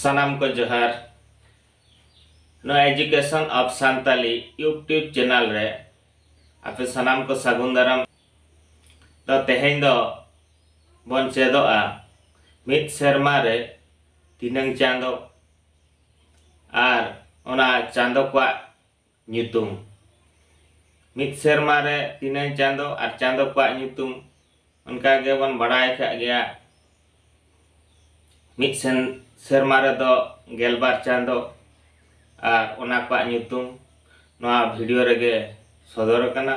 ᱥᱟᱱᱟᱢ ᱠᱚ ᱡᱚᱦᱟᱨ ᱱᱚᱣᱟ education of Santali YouTube channel ᱨᱮ ᱟᱯᱮ ᱥᱟᱱᱟᱢ ᱠᱚ ᱥᱟᱹᱜᱩᱱ ᱫᱟᱨᱟᱢ ᱛᱚ ᱛᱮᱦᱮᱧ ᱫᱚ ᱵᱚᱱ ᱪᱮᱫᱚᱜᱼᱟ ᱢᱤᱫ ᱥᱮᱨᱢᱟ ᱨᱮ ᱛᱤᱱᱟᱹᱝ ᱪᱟᱸᱫᱚ ᱟᱨ ᱚᱱᱟ ᱪᱟᱸᱫᱚ ᱠᱚᱣᱟᱜ ᱧᱩᱛᱩᱢ᱾ ᱢᱤᱫ ᱥᱮᱨᱢᱟ ᱨᱮ ᱛᱤᱱᱟᱹᱝ ᱪᱟᱸᱫᱚ ᱟᱨ ᱪᱟᱸᱫᱚ ᱠᱚᱣᱟᱜ ᱧᱩᱛᱩᱢ ᱚᱱᱠᱟ ᱜᱮ ᱵᱚᱱ ᱵᱟᱰᱟᱭ ᱟᱠᱟᱫ ᱜᱮᱭᱟ ᱢᱤᱫ ᱥᱮᱱ ᱥᱮᱨᱢᱟ ᱨᱮ ᱫᱚ ᱜᱮᱞ ᱵᱟᱨ ᱪᱟᱸᱫᱚ ᱟᱨ ᱚᱱᱟ ᱠᱚᱣᱟᱜ ᱧᱩᱛᱩᱢ ᱱᱚᱣᱟ ᱵᱷᱤᱰᱤᱭᱳ ᱨᱮ ᱜᱮ ᱥᱚᱫᱚᱨ ᱟᱠᱟᱱᱟ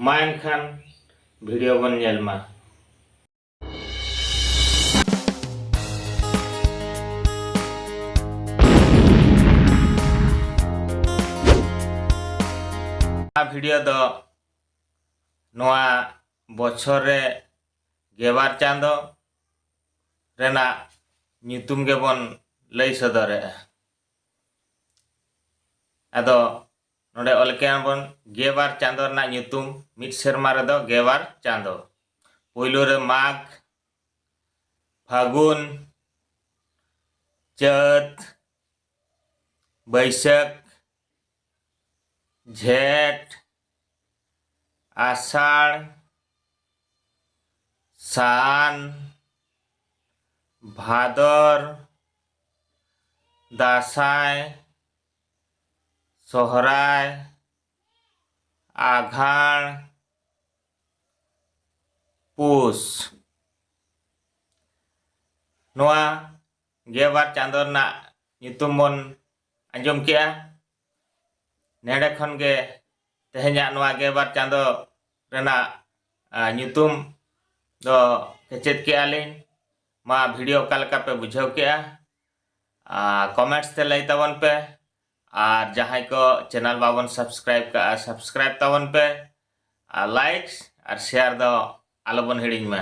ᱢᱟ ᱮᱱᱠᱷᱟᱱ ᱵᱷᱤᱰᱤᱭᱳ ᱵᱚᱱ ᱧᱮᱞ ᱢᱟ᱾ ᱵᱷᱤᱰᱤᱭᱳ ᱫᱚ ᱱᱚᱣᱟ ᱵᱚᱪᱷᱚᱨ ᱨᱮ ᱜᱮᱵᱟᱨ ᱪᱟᱸᱫᱚ ᱨᱮᱱᱟᱜ ᱧᱩᱛᱩᱢ ᱜᱮᱵᱚᱱ ᱞᱟᱹᱭ ᱥᱚᱫᱚᱨᱮᱜᱼᱟ ᱟᱫᱚ ᱱᱚᱰᱮ ᱚᱞ ᱠᱮᱜ ᱟᱵᱚᱱ ᱜᱮᱵᱟᱨ ᱪᱟᱸᱫᱚ ᱨᱮᱱᱟᱜ ᱧᱩᱛᱩᱢ ᱢᱤᱫ ᱥᱮᱨᱢᱟ ᱨᱮᱫᱚ ᱜᱮᱵᱟᱨ ᱪᱟᱸᱫᱚ ᱯᱩᱭᱞᱩ ᱨᱮ ᱢᱟᱜᱽ ᱯᱷᱟᱹᱜᱩᱱ ᱪᱟᱹᱛ ᱵᱟᱹᱭᱥᱟᱹᱠᱷ ᱡᱷᱮᱸᱴ ᱟᱥᱟᱲ ᱥᱟᱱ ᱵᱷᱟᱫᱚᱨ ᱫᱟᱸᱥᱟᱭ ᱥᱚᱦᱚᱨᱟᱭ ᱟᱜᱷᱟᱬ ᱯᱩᱥ ᱱᱚᱣᱟ ᱜᱮᱵᱟᱨ ᱪᱟᱸᱫᱚ ᱨᱮᱱᱟᱜ ᱧᱩᱛᱩᱢ ᱵᱚᱱ ᱟᱸᱡᱚᱢ ᱠᱮᱜᱼᱟ ᱱᱮᱰᱮ ᱠᱷᱚᱱ ᱜᱮ ᱛᱮᱦᱮᱧᱟᱜ ᱱᱚᱣᱟ ᱜᱮᱵᱟᱨ ᱪᱟᱸᱫᱚ ᱨᱮᱱᱟᱜ ᱧᱩᱛᱩᱢ ᱫᱚ ᱥᱮᱪᱮᱫ ᱠᱮᱜᱼᱟ ᱞᱤᱧ ᱢᱟ ᱵᱷᱤᱰᱤᱭᱳ ᱚᱠᱟ ᱞᱮᱠᱟ ᱯᱮ ᱵᱩᱡᱷᱟᱹᱣ ᱠᱮᱜᱼᱟ ᱠᱚᱢᱮᱱᱴᱥ ᱛᱮ ᱞᱟᱹᱭ ᱛᱟᱵᱚᱱ ᱯᱮ ᱟᱨ ᱡᱟᱦᱟᱸᱭ ᱠᱚ ᱪᱮᱱᱮᱞ ᱵᱟᱵᱚᱱ ᱥᱟᱵᱥᱠᱨᱟᱭᱤᱵ ᱠᱟᱜᱼᱟ ᱥᱟᱵᱥᱠᱨᱟᱭᱤᱵ ᱛᱟᱵᱚᱱ ᱯᱮ ᱟᱨ ᱞᱟᱭᱤᱠ ᱟᱨ ᱥᱮᱭᱟᱨ ᱫᱚ ᱟᱞᱚᱵᱚᱱ ᱦᱤᱲᱤᱧ ᱢᱟ